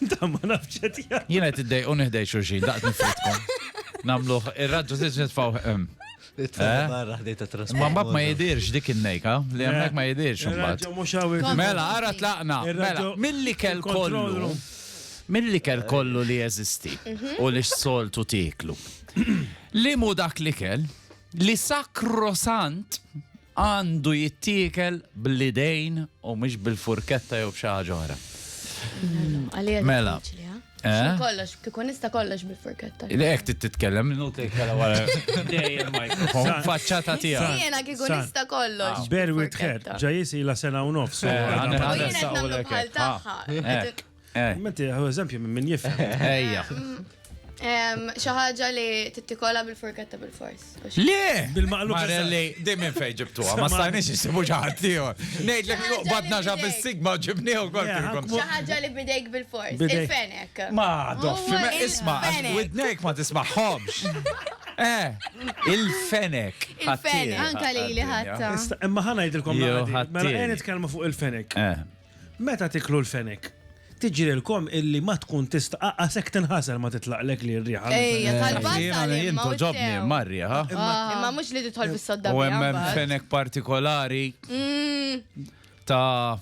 Dan ma nafx qed jgħid. Jiena qed iddejq u nihdej xulxin, daqt nifridkom. Namluh ir-raġġu tiġ nitfgħu hemm. Nitfgħu barra ħdej ta' trasport. Ma mbagħad ma jidhirx dik in-nejka, li hemmhekk ma jidhirx imbagħad. Mela, ara tlaqna. Mela, mill-ikel kollu. Mill-ikel kollu li jeżisti u li s-soltu tieklu. Liemu dak l-ikel? Li sakrosant għandu jittiekel bl-idejn u mhux bil-furketta jew b'xi ħaġa oħra. Mela. Eh? Kollox, kieku nista kollox bil-furketta. Lek titkellem, minnu titkellem wara. Faċċata tija. Jena kieku nista kollox. Bear with her, ġajis ila sena u nofs. Eh, Eh. Menti, hu eżempju minn min jifhem. Ejja. Xi ħaġa li tittikola bil-furketta bil-fors. Le! Bil-maqlub. Marelli, dejjem minn fejn ġibtuha, ma stajniex isibu xi ħadd ieħor. Ngħidlek li qbadna ġa fis-sigma u ġibnieħu kont ilkom. Xi ħaġa li bidejk bil-fors. Il-fenek. Ma, doffi, ma isma' għax widnejk ma tismagħhomx. Eh, il-fenek. Il-fenek. Anka li li ħatta. Imma ħana jidilkom. Mela, nitkellmu fuq il-fenek. Eh. Meta tiklu l-fenek, tiġrilkom illi ma tkun tista' aqqas hekk tinħasel ma titlaqlek li r-riħa. Ejja, tal-bażar imma. Jiena jien togħġobni imma r-riħa. Imma mhux li tidħol fis-sodda biha. U hemm hemm fenek partikolari ta'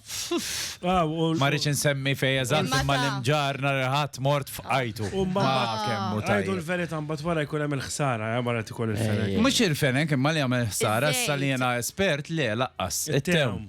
ma rridx insemmi fejn eżatt imma l-imġarr nhar il-Ħadd mort f'qajtu. U mbagħad kemm hu tajjeb. Ngħidu l-verità mbagħad wara jkun hemm il-ħsara wara tikol il-fenek. Mhux il-fenek imma li jagħmel ħsara issa li jiena espert le laqqas. It-tewm.